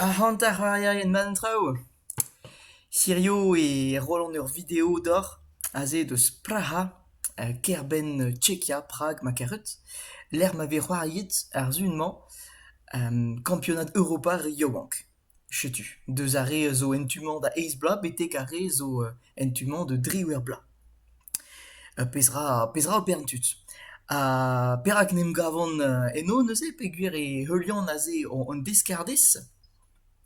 Ac'hant ar c'hoarierien-mañ an traoù ? Hirio e roan ur video deoc'h aze deus Praha, kêr-benn Tchekia, Prag ma karet, lec'h ma vez c'hoariet ar sizhun-mañ kampionad Europa yaouank. Setu, deus ar re a zo en tu-mañ da eizh bloaz betek ar re zo en tu-mañ da driwec'h bloaz. Petra petra ober an tud ? Ha perak n'em gavan eno neuze peogwir e heulian aze an deskardez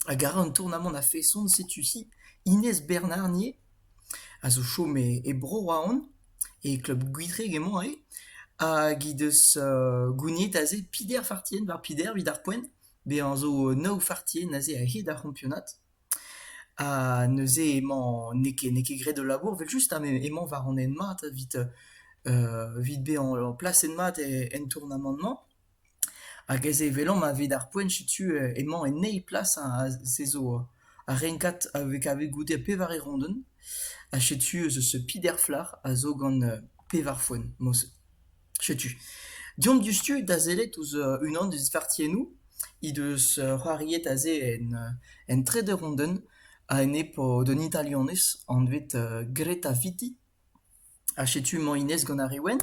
hag a ra an tournamant a-feson setu-hi Ines Bernarnier a zo chom e Bro-Raon e klub Gwitreg emañ he hag he deus gouniet aze Pider Fartien war Pider evit ar poent. Bezañ zo nav fartier neuze a-hed ar c'hampionad ha neuze emañ n'eo ket n'eo ket graet ul labour evel-just ha emañ war an hent mat evit evit bezañ plaset mat en tournamant-mañ hag aes eo evelomp evit ar poent setu emañ en eil plas se zo ar renkad kavet goude pevar erondenn ha setu peter flac'h a zo gant pevar foenn mose. Setu. Deomp diouzhtu da sellet ouzh unan eus vartiennoù he deus c'hoariet aze en en Trederonden a enep d'un Italianez anvet Greta Vitti. Ha setu emañ hennezh gant ar re wenn.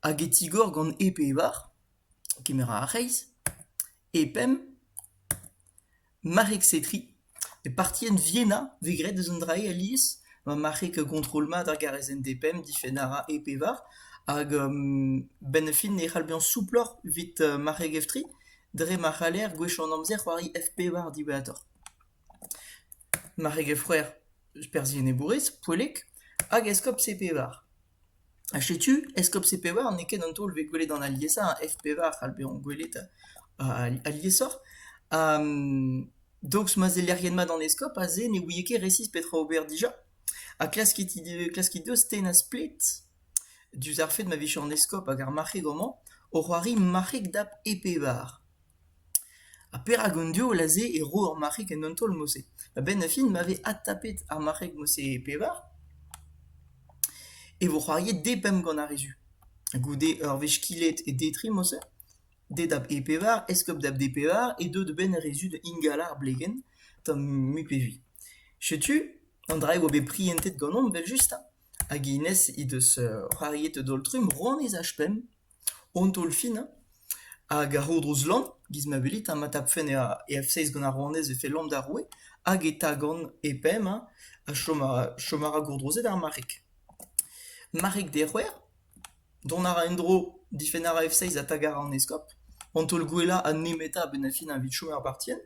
Hag e tigor gant e pevar, kemer a ra ar c'hreiz, e pemp. Marc'heg-setriñ, e partien Vienna vez graet eus un dra alies ma marc'heg kontrol mat ar garrez-ent-depemp difenn a ra e pevar hag benn ar fin e c'hall bezañ souploc'h evit marc'heg F3 dre ma c'haller gwechall an amzer c'hoari F5 diwezhatoc'h. Marc'heg F c'hwec'h, perzh enebourez, poellek, hag eskob C5. Ha setu Eskob C-Pevar n'eo ket an taol vez gwelet gant aliesañ ha F-Pevar c'hall bezañ gwelet aliesoc'h. donc ma sellerien mat an eskob aze ne ouie ket resis petra ober dija. Ha klaskit klaskit deus tennañ splet diouzh ar fed ma vije an eskob hag ar marc'heg homañ o c'hoari marc'heg dap E-Pevar. Ha perak an diaoul aze e ro ur marc'heg en un taol-mose ? A-benn ar fin ma vez adtapet ar marc'heg-mose pevar e vo c'hoariet depemp gant ar re-se. Goude ur wech kilet e D-trimose, D-dap E-pevar, Eskob-dap D-pevar e deu da benn ar re-se da ingal ar blegenn tamm mui pe mui. Setu an dra-se e oa bet prientet ganeomp evel-just, hag hennezh he deus c'hoariet un taol-trumm, Ronez H-pemp. Hon taol-fin hein, hag a-ro-dro Zlan, giz ma welit hein, ma tapfen e F-seiz gant ar rouanez e fellomp d'ar roue hag e tagan e pemp hein, ha chom a- chom a ra gourdrozet ar marc'heg. Marc'heg d'he c'hwec'h, dont a ra en-dro, difenn a ra F-seiz ha taka a ra an eskob. Hon taol gwellañ ha nemetañ a-benn ar fin evit chom er bartienn.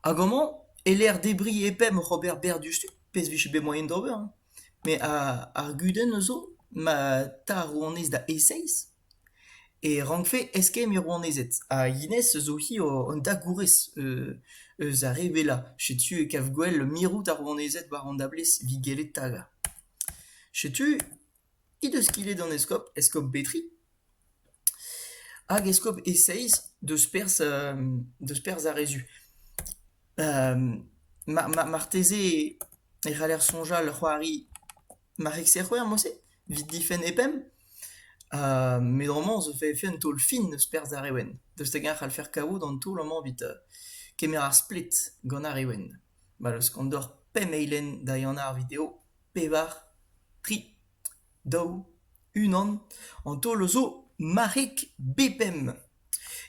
Hag amañ, e-lec'h debriñ e pemp oc'h ober berr diouzhtu, pezh 'vije bet moaien d'ober hein. Met ar gudenn a zo ma ta ar rouanez da eseizh e rankfe eskemm he rouanezed ha hennezh a zo hi an dagourez eus ar re wellañ. Setu e kav gwell mirout ar rouanezed war an dablez evit gellet tagañ. Setu he deus kilet an eskob, eskob Betri. Hag eskob e-seizh deus perzh deus perzh ar re zu. marteze e c'haller soñjal c'hoari marc'heg-se c'hwec'h mod-se, evit difenn e pemp. met homañ zo fait un taol fin deus perzh ar re wenn. Deus hag-eñ e c'hallfer kavout an taol amañ evit kemer ar splet gant ar re wenn. Ma 'l eus kondor pemp eilenn da ehanañ ar video, pevar, tri. daou, unan, an taol a zo marc'heg B5.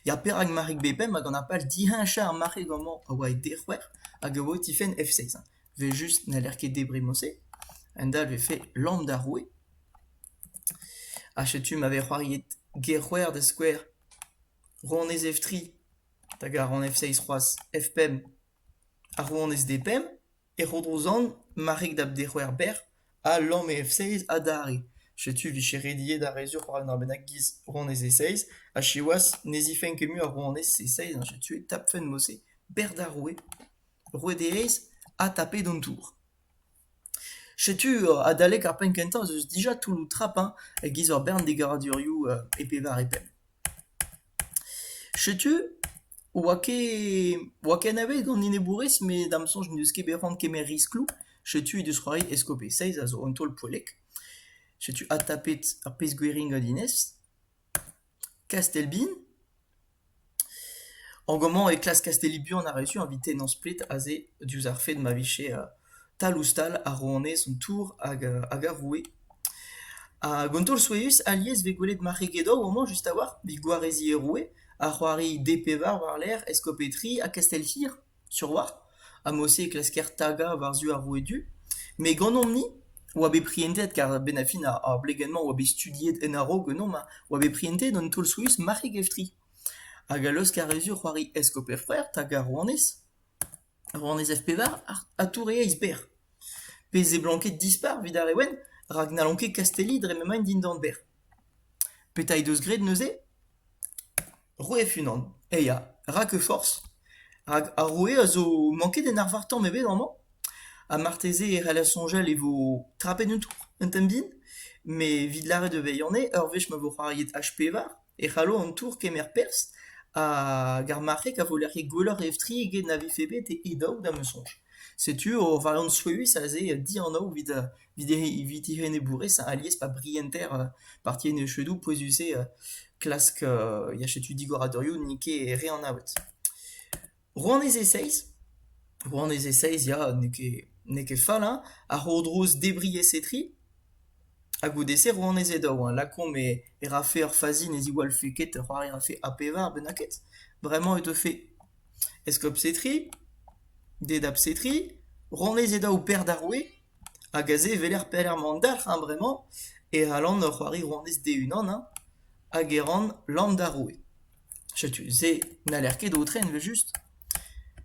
Ya, perak marc'heg B5? Hag an apal diheñchañ ar marc'heg amañ a oa e D-c'hwec'h hag a oa e tifenn F6. Vel just n'haller ket debriñ mod-se. A-hend-all e vefe lambda roue. Ha setu ma vez c'hoariet G-c'hwec'h da skouer, rouanez F3 hag ar rouanez F6 c'hoazh F5, ha rouanez D5. E Rodrozan, marc'heg da dec'houer bec'h, a lamme F-seiz adarre. Setu 'vije rediet arezioù c'hoant ur bennak 'giz rouanez E-Seiz, ha siwazh ne zifenn ket mui ar rouanez E-Seiz ha setu e tapfen mod-se bec'h d'ar roue, roue d'E-Aez, ha tapet an tour. Setu adalek ar penn kentañ ez eus dija toulloù trap-eñ e-giz ur bern degaradurioù e pevar e pemp. Setu, oa ket oa ket anavet gant enebourez met da'm soñj n'eus ket bet c'hoant kemer riskloù. Setu he deus c'hoari Escopé Seiz a zo un taol poellek. Setu adtapet ar pezh gwiriñ gant Inès. Kastel-Bin. En gomañ e klask Kastelli buan ar rezum evit tennañ splet aze diouzh ar fed ma vije Tal-ouzh-tal a ro anezhañ an tour hag ar roue. Hag an taol souezhus alies e vez gwelet marc'hegedou amañ just a-walc'h, evit gwareziñ e roue, ha c'hoari D-pevar war-lerc'h eskopetri ha kastell-hir sur-walc'h. Ha mod-se e klasker tagañ war-zu ar roue du. Met ganeomp-ni oa bet prientet, kar a-benn ar fin ar blegenn-mañ oa bet studiet en a-raok ganeomp, oa bet prientet an taol souezhus marc'hegevtri. Hag a laosk ar rezur c'hoari eskoper-c'hwec'h, tagañ rouanez. Rann ez ev-pevar ha tour eo eizh berr. Pe seblant ket dispar evit ar re wenn rak n'hallont ket kastelliñ dre m'emaint dindan berr. Petra he deus graet neuze ? Roueef unan, eh ya, rak e forzh. Rak ar roue a zo manket en arvar tamm ebet amañ. Ha marteze e c'heller soñjal e vo trapet un tour un tamm din. Met evit lâret e vezañ eo ur wech ma vo c'hoariet H pevar. e c'hallo an tour kemer perzh hag ar marc'heg a voe lec'hiet gwelloc'h etre eget na vefe bet e daou da ma soñj. Setu ur valanstruez aze dianav evit evit he evit he enebourez alies pa brienter parti enezvoudoù pouezus-se klask ya setu digoradurioù n'int ket re anavet. Rouanez e-seizh ? Rouanez e-seizh ya, n'eo ket n'eo ket fall hein, a c'hourdrouz Debriez-Etri, ha goude-se rouanez e daou hein, lakaomp e e rafe ur fazi ne ziwallfe ket ur c'hoari a rafe A pevar bennak ket, bremañ e teufe eskob-Setri, didab-Setri, rouanez e daou berr d'ar roue, hag aze e weler pelec'h mont dalc'h hein bremañ, e c'hallan ur c'hoari rouanez d'e-unan hein, hag e ran lamm d'ar roue. Setu se n'haller ket aotren evel-just.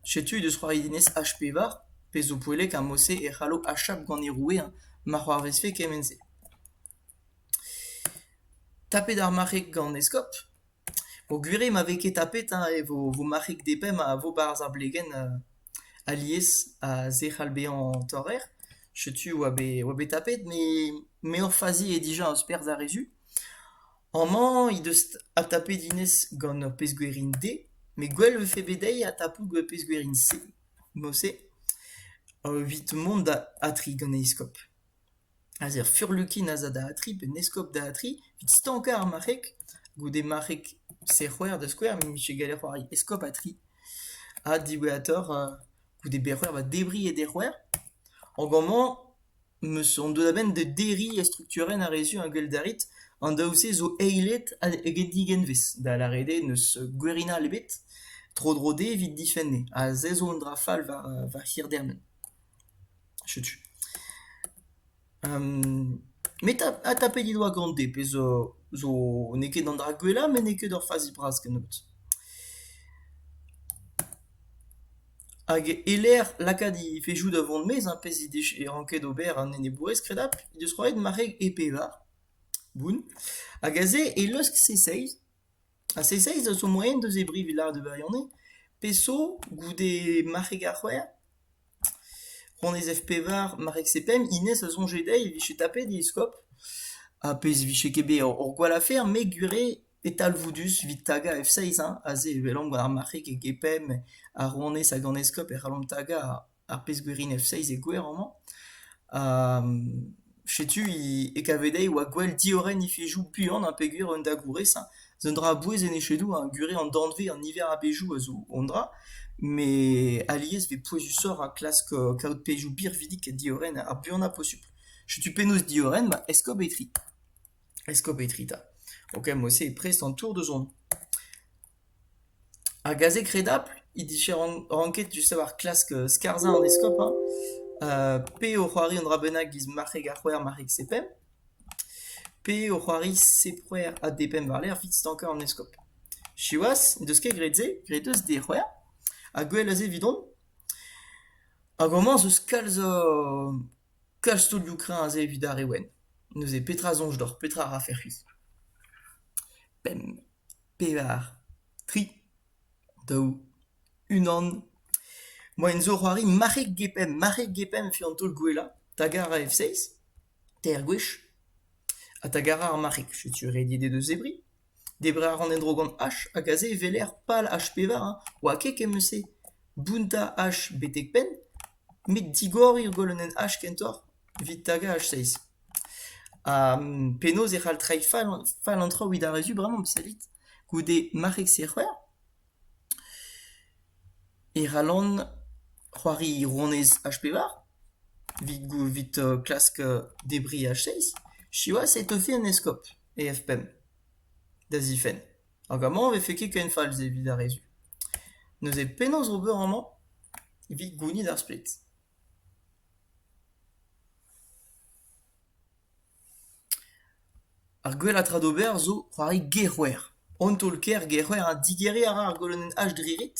Setu he deus c'hoarienez H-pevar, pezh zo poellek ha mod-se e c'hallo achap gant e roueañ ma c'hoarvezfe kement-se. Tapet ar marc'heg gant Eskob. Peogwir eo ma vez ket tapet hein, e vo vo marc'heg depemp a vo 'barzh ar blegenn alies a se c'hall bezañ torrer. Setu e oa bet e oa bet tapet met me ur fazi eo dija eus perzh ar re-zu. Amañ he deus adtapet hennezh gant ur pezh-gwerin-D met gwell 'vefe bet dezhi adtapout gant ur pezh-gwerin-C. Mouse evit mont da atri gant he eskob. Aze ur furlukin a za da atri pe un eskob da atri evit stankañ ar marc'heg. Goude marc'heg serc'hwer da skouer met 'vije gallet c'hoari eskob atri. Ha diwezhatoc'h goude berc'hwer 'ba debriñ e dec'hwer. Hag amañ 'Meus on deut a-benn da derriñ estrukturenn ar rezioù a gell d'arrit. An daou-se zo eilet eget digenvez, da lâret eo n'eus gwerinal ebet tro-dro dezhe evit difenn eo. Ha se zo un dra fall war hirdermen. Setu. met adtapet he doa gant dezhe pezh zo n'eo ket an dra gwellañ met n'eo ket ur fazi bras kennebeut. Hag e-lec'h lakaat he vezioù da vont maez ar pezh he dije ranket ober an enebourez kredapl he deus roet mare e pevar boun hag aze e leusk Seiseiz. Ha Seiseiz a zo moaien da zebriñ evit lâret e birionez pe zo goude marc'heg ar c'hwec'h. Honnezh F-pevar, marc'heg C-pemp, hennezh a soñje dezhi e vije tapet he eskob. Ha pezh 'vije ket bet hor gwall afer met gwir eo. E talvoudus evit tagañ F-seiz-1 aze e welan war ar marc'heg e GPM ar rouanez hag an eskob e c'hallomp tagañ ar pezh-gwerin F-seiz e gwer amañ. Ha setu e kave dezhi e oa gwell diorren efezoù buan ha peogwir un da gourez hein. Un dra a-bouez en echedoù hein, gure an danvez an niver a bezhioù a zo un dra met alies e vez pouezusoc'h ha klask kaout pezhioù birvidik ha diorren ar buanañ posupl. Setu penaos diorren ma eskob etre. Eskopetri 'ta, ok mod-se eo prest an tour da zont. Ar gazeg redapl he dije ran- ranket just a-walc'h klask skarzhañ an eskob hañ ha pe o c'hoari un dra bennak giz marc'heg ar c'hwec'h, marc'heg sepemp, pe o c'hoari sepc'hwec'h ha depemp war-lerc'h 'vit stankañ an eskob. Siwazh n'en deus ket graet se, graet eus d'he c'hwec'h ha gwell a se 'vidon. Ha gomañs eus kalz a Kalz studiou kreñv-se evit ar re wenn. Neuze petra soñj deoc'h, petra a rafe c'hwi? Pemp, pevar, tri, daou, unan. Moaien zo c'hoari marc'heg get-pemp. Marc'heg get-pemp eo an taol gwellañ. Tagañ a ra F6, teir gwech, ha tagañ a ra ar marc'heg. Setu rediet he deus zebriñ. Debriñ a ran en-dro gant H hag aze e weler pal H-pevar hein, oa ket ken eus-se bountañ H betek penn met digoriñ ur golonenn H kentoc'h evit tagañ H-seiz. Ha penaos e c'hall treiñ fall an traoù evit ar re zu bremañ, savit, goude marc'heg-serc'her. E c'hallan c'hoari rouanez H-pevar evit klask debriñ H-seiz. Siwazh e teufe an eskob e F-pemp da zifenn hag amañ e vefe ket ken fall evit ar re zu. Neuze penaos ober amañ evit gounit ar splet? Ar gwellañ tra d'ober zo c'hoari gerc'hwer. An taol-kaer gerc'hwer ha digeriñ a ra ar golonenn H dre ret.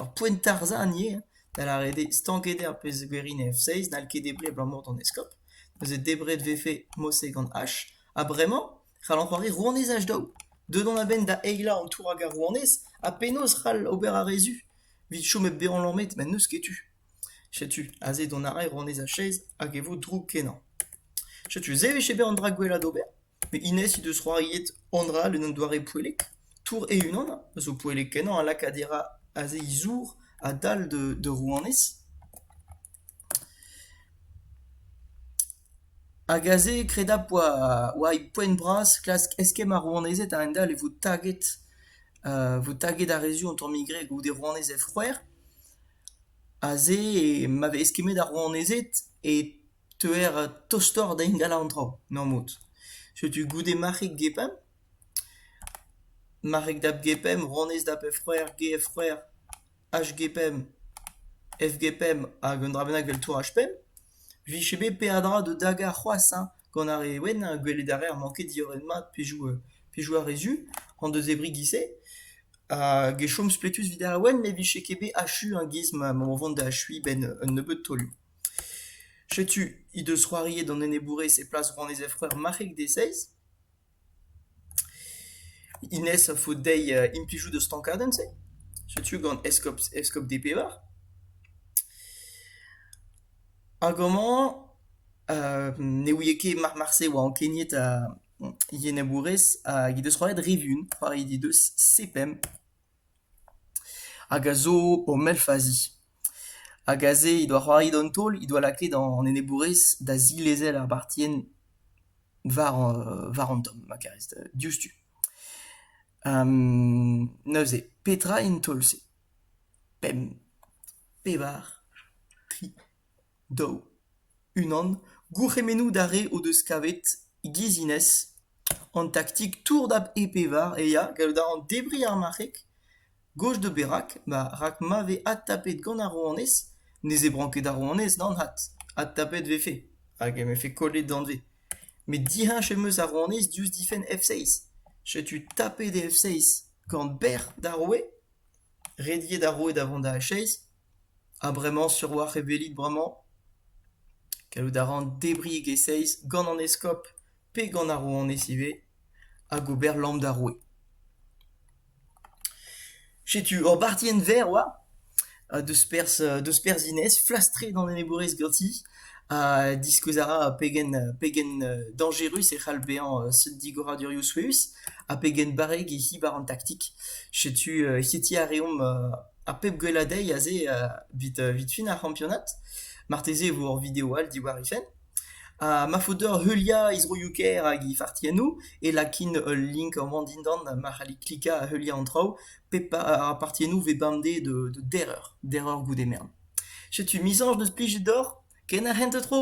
Ur poent tarzhañ an yer, da lâret eo stanket eo ar pezh a gouezhin en F6, n'hall ket debriñ abalamour d'an eskob. Neuze debret 'vefe mod-se gant H. Ha bremañ c'hallan c'hoari rouanez H-daou. Deuet on a-benn da eilañ an tour hag ar rouanez, ha penaos c'hall ober ar re zu? 'vit chom hep bezañ lammet ma n'eus ket tu. Setu aze dont a rae Ronez a-chaez hag e vo drouk-kenañ. Setu se 'vije bet an dra gwellañ d'ober. Met hennezh he deus c'hoariet an dra en un doare poellek. Tour e-unan a zo poellek-kenañ a laka dirañ aze he zour a-dal da rouanez. Hag aze kredapl oa he poent bras klask eskemm ar rouanezed a-hend-all e vo taget vo taget ar re zu an tammig re goude rouanez he c'hwec'h. Aze, ma vez kemmet ar rouanezed e teuer tostoc'h da ingal an traoù normal. Setu goude marc'heg Gepemp. Marc'heg dap Gepemp, rouanez dap he c'hwreur Ge he c'hwreur, H Gepemp, F Gepemp hag un dra bennak 'vel tour H Pemp. 'Vije bet peadra da dagañ c'hoazh hein. Gant ar re wenn ha gwelet a raer manket diorren-mat pejoù ar re zu en deus debriñ giz-se hag e chom spletus evit ar wenn ne vije ket bet achu an giz ma o vont da achuiñ 'benn un nebeud taolioù. Setu he deus c'hoariet an enebourez e plas rannyezh-vreur marc'heg Deseiz. Inès a faot dezhi implijout ur stankadenn-se. Setu gant eskob eskob D-Pevar. Hag amañ ne ouie ket marse e oa ankeniet ha yennabourez hag he deus c'hoariet re vuan. C'hoariet he deus C-Pemp. hag a zo o melfazi. Hag aze he doa c'hoari d'an taol, he doa lakaet an enebourez da zilezel ar bartienn war an tamm, ma karez, diouzhtu. neuze, petra int taol-se ? Pemp, pevar, tri. daou. Unan, gourc'hemennoù d'ar re o deus kavet, e-giz-Inès, an taktik tour da e-pevar e ya gallout a ran debriñ ar marc'heg gozh da berak, ba rak ma vez adtapet gant ar rouanez ne zebran ket ar rouanez d'an had, adtapet 'vefe hag em efe kollet danvez. Met diheñch em eus ar rouanez diouzh difenn F6. Setu tapet e F6 gant bec'h d'ar roue, rediet ar roue da vont da H6. Ha bremañ sur a-walc'h e welit bremañ ? Gallout a ran debriñ e-seizh gant an eskob pe gant ar rouanez ivez hag ober lamm d'ar roue. Setu ur bartienn verr oa ha deus perzh deus perzh Inès, flastret an enebourez ganti ha diskouez a ra pegen pegen dañjerus e c'hall bezañ seurt digoradurioù souezhus ha pegen barrek he c'hi war an taktik. Setu hetiñ a reomp Ar pep gwellañ dezhi aze evit fin ar c'hampionad. Marteze e vo ur video all diwar he fenn. Ha ma faot deoc'h heuliañ he zroioù-kaer hag he fartiennoù e lakin ul link amañ dindan ma c'hallit klikañ ha heuliañ an traoù pep ar partiennoù vez bemdez de dereur, dereur goude mern. Setu mizañs deus plijet deoc'h. Ken ar c'hent-tro!